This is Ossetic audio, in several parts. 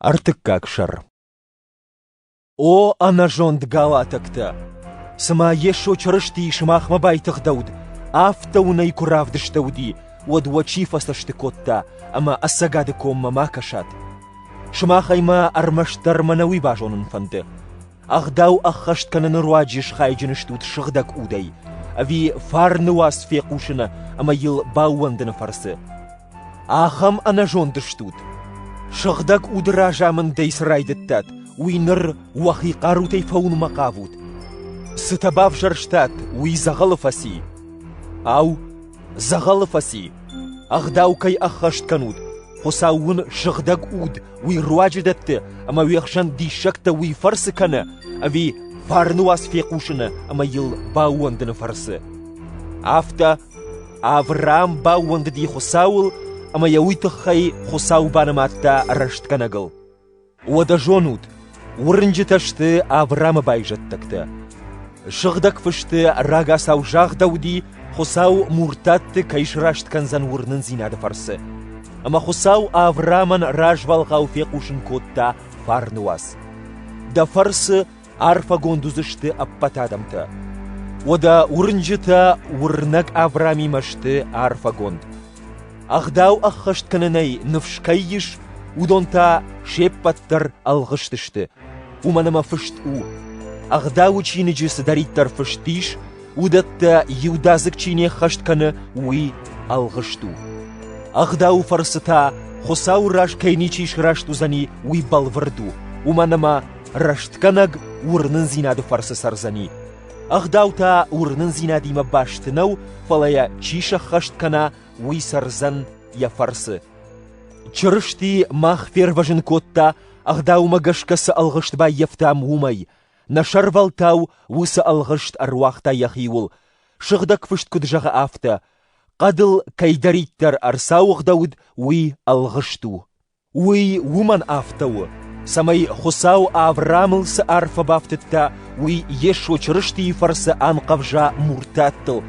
Ӕртыккаг сӕр О ӕнӕзонд галатӕгтӕ! Цымӕ Йесо Чырыстийы сымахмӕ байтыгъдӕуыд, афтӕ уын ӕй куы равдыстӕуыди, уӕд уӕ чи фӕцӕсты кодта ӕмӕ ӕцӕгады коммӕ ма кӕсат? Сымах ӕй ма ӕрмӕстдӕр мӕнӕ уый базонын фӕнды. Ӕгъдау ӕххӕст кӕныны руаджы схайджын стут сыгъдӕг удӕй, ӕви фарны уац фехъусыны ӕмӕ йыл баууӕндыны фӕрцы? Ахӕм ӕнӕзонд стут! Сыгъдӕг уды разамындӕй цы райдыдтат, уый ныр уӕхи хъарутӕй фӕуынмӕ хъавут. Цытӕ бавзӕрстат, уый дзӕгъӕлы фӕци. Ау, дзӕгъӕлы фӕци? Ӕгъдау кӕй ӕххӕст кӕнут, Хуыцау уын сыгъдӕг уд уый руаджы дӕтты, ӕмӕ уе хсӕн диссӕгтӕ уый фӕрцы кӕны, ӕви фарны уац фехъусыны ӕмӕ йыл баууӕндыны фӕрцы? Афтӕ Авраам баууӕндыди Хуыцауыл ӕмӕ йӕ уый тыххӕй Хуыцау банымадта рӕстгӕнӕгыл. Уӕдӕ зонут, уырнджытӕ сты Авраамы байзӕддӕгтӕ. Сыгъдӕг Фысты рагацау загъдӕуыди, Хуыцау муртатты кӕй сраст кӕндзӕн уырнындзинады фӕрцы. Ӕмӕ Хуыцау Авраамӕн развӕлгъау фехъусын кодта фарны уац: «Дӕ фӕрцы Арфӕгонд уыдзысты ӕппӕт адӕмтӕ. Уӕдӕ уырнджытӕ уырнӕг Авраамимӕ сты арфӕгонд. Ӕгъдау ӕххӕст кӕнынӕй ныфс кӕй ис, уыдон та се ппӕт дӕр ӕлгъыстысты, уымӕн ӕмӕ фыст у: Ӕгъдауы чиныджы цыдӕриддӕр фыст ис, уыдӕттӕ иудадзыг чи не ххӕст кӕны, уый ӕлгъыст у. Ӕгъдауы фӕрцы та Хуыцауы раз кӕй ничи сраст уыдзӕни, уый бӕлвырд у, уымӕн ӕмӕ Рӕстгӕнӕг уырнындзинады фӕрцы цӕрдзӕни. Ӕгъдау та уырнындзинадимӕ баст нӕу, фӕлӕ йӕ чи сӕххӕст кӕна, уый цӕрдзӕн йӕ фӕрцы. Чырысти мах фервӕзын кодта, ӕгъдаумӕ гӕсгӕ цы ӕлгъыст баййӕфтам, уымӕй. Нӕ сӕрвӕлтау уыцы ӕлгъыст ӕруагъта йӕхиуыл. Сыгъдӕг Фыст куыд зӕгъы афтӕ: «Хъӕдыл кӕйдӕриддӕр ӕрцауыгъдӕуыд, уый ӕлгъыст у». Уый уымӕн афтӕ у, цӕмӕй Хуыцау Авраамыл цы арфӕ бафтыдта, уый Йесо Чырыстийы фӕрцы анхъӕвза муртаттыл,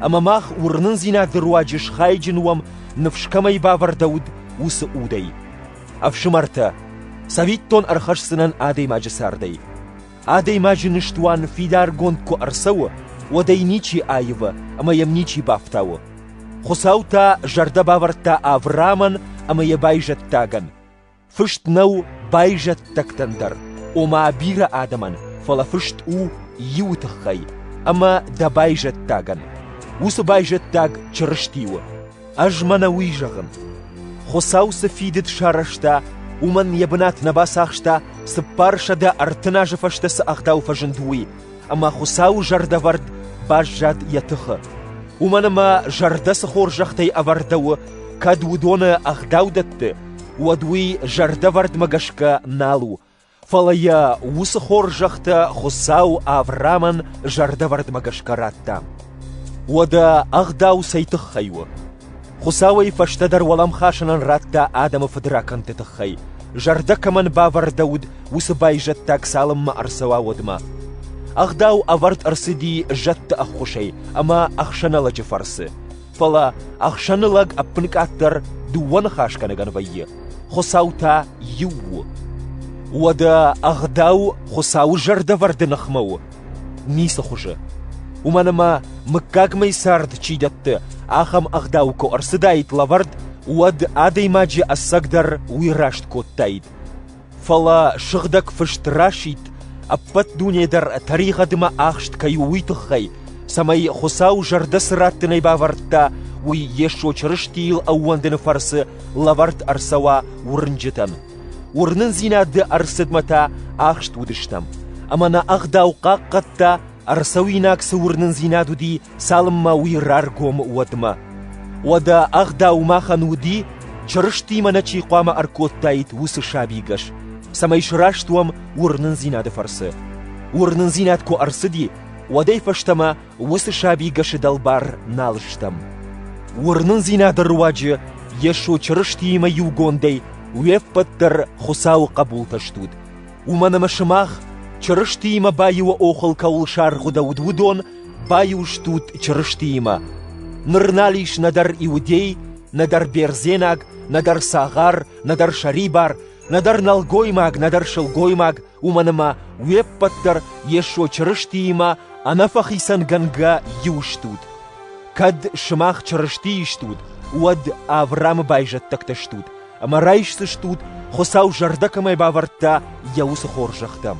ӕмӕ мах уырнындзинады руаджы схайджын уӕм, ныфс кӕмӕй бавӕрдӕуыд, уыцы удӕй. Ӕфсымӕртӕ, цӕвиттон ӕрхӕсдзынӕн адӕймаджы цардӕй. Адӕймаджы ныстуан фидаргонд куы ӕрцӕуы, уӕд ӕй ничи аивы ӕмӕ йӕм ничи бафтауы. Хуыцау та зӕрдӕ бавӕрдта Авраамӕн ӕмӕ йӕ байзӕддагӕн. Фыст нӕу байзӕддӕгтӕн дӕр, ома бирӕ адӕмӕн, фӕлӕ фыст у иуы тыххӕй ӕмӕ дӕ байзӕддагӕн. Уыцы байзӕддаг Чырысти у. Ӕз мӕнӕ уый зӕгъын: Хуыцау цы фидыд сарӕзта, уымӕн йӕ бынат нӕ бацахста, цыппарсӕдӕ ӕртын азы фӕстӕ цы ӕгъдау фӕзынд, уый, ӕмӕ Хуыцауы зӕрдӕвӕрд баззад йӕ тыхы. Уымӕн ӕмӕ зӕрдӕ цы хорзӕхтӕй ӕвӕрдӕуы, кӕд уыдоны ӕгъдау дӕтты, уӕд уый зӕрдӕвӕрдмӕ гӕсгӕ нал у, Фӕлӕ йӕ уыцы хорзӕхтӕ Хуыцау Авраамӕн зӕрдӕвӕрдмӕ гӕсгӕ радта. Уӕдӕ ӕгъдау цӕй тыххӕй у? Хуыцауӕй фӕстӕдӕр уӕлӕмхасӕнӕн радта адӕмы фыдракӕндты тыххӕй, зӕрдӕ кӕмӕн бавӕрдӕуыд, уыцы байзӕддаг цалынмӕ ӕрцӕуа, уӕдмӕ. Ӕгъдау ӕвӕрд ӕрцыди зӕдты ӕххуысӕй ӕмӕ ӕхсӕнӕлӕджы фӕрцы, Фӕлӕ ӕхсӕны лӕг ӕппынкъаддӕр дыууӕ ныхасгӕнӕгӕн вӕййы: Хуыцау та иу у. Уӕдӕ ӕгъдау Хуыцауы зӕрдӕвӕрды ныхмӕ у? Ницы хуызы. Уымӕн ӕмӕ, мыггагмӕ цард чи дӕтты, ахӕм ӕгъдау куы ӕрцыдаид лӕвӕрд, уӕд адӕймаджы ӕцӕгдӕр уый раст кодтаид. Фӕлӕ сыгъдӕг фыст расидт, ӕппӕт дуне дӕр тӕригъӕдмӕ ӕхст кӕй у, уый тыххӕй, цӕмӕй Хуыцау зӕрдӕ цы раттынӕй бавӕрдта, уый Йесо Чырыстийыл ӕууӕндыны фӕрцы лӕвӕрд ӕрцӕуа уырнджытӕн. Уырнындзинады ӕрцыдмӕ та ахст уыдыстӕм, ӕмӕ нӕ ӕгъдау хъахъхъӕдта, ӕрцӕуинаг цы уырнындзинад уыди, цалынмӕ уый раргом уӕдмӕ. Уӕдӕ ӕгъдау махӕн уыди, Чырыстимӕ нӕ чи хъуамӕ ӕркодтаид, уыцы сабигӕс, цӕмӕй сраст уӕм уырнындзинады фӕрцы. Уырнындзинад куы ӕрцыди, уӕдӕй фӕстӕмӕ уыцы сабигӕсы дӕлбар нал стӕм. Уырнындзинады руаджы Йесо Чырыстиимӕ иугондӕй уе ппӕт дӕр Хуыцауы хъӕбултӕ стут, Уымӕн ӕмӕ сымах, Чырыстиимӕ баиуы охыл кӕуыл саргъуыдӕуыд, уыдон баиу стут Чырыстиимӕ. Ныр нал ис нӕдӕр иудей, нӕдӕр бердзенаг, нӕдӕр цагъар, нӕдӕр сӕрибар, нӕдӕр нӕлгоймаг, нӕдӕр сылгоймаг, уымӕн ӕмӕ уе ппӕт дӕр Йесо Чырыстиимӕ ӕнӕфӕхицӕнгӕнгӕ иу стут. Кӕд сымах Чырыстийы стут, уӕд Авраамы байзӕддӕгтӕ стут, ӕмӕ райсдзыстут, Хуыцау зӕрдӕ кӕмӕй бавӕрдта, йӕ уыцы хорзӕхтӕм.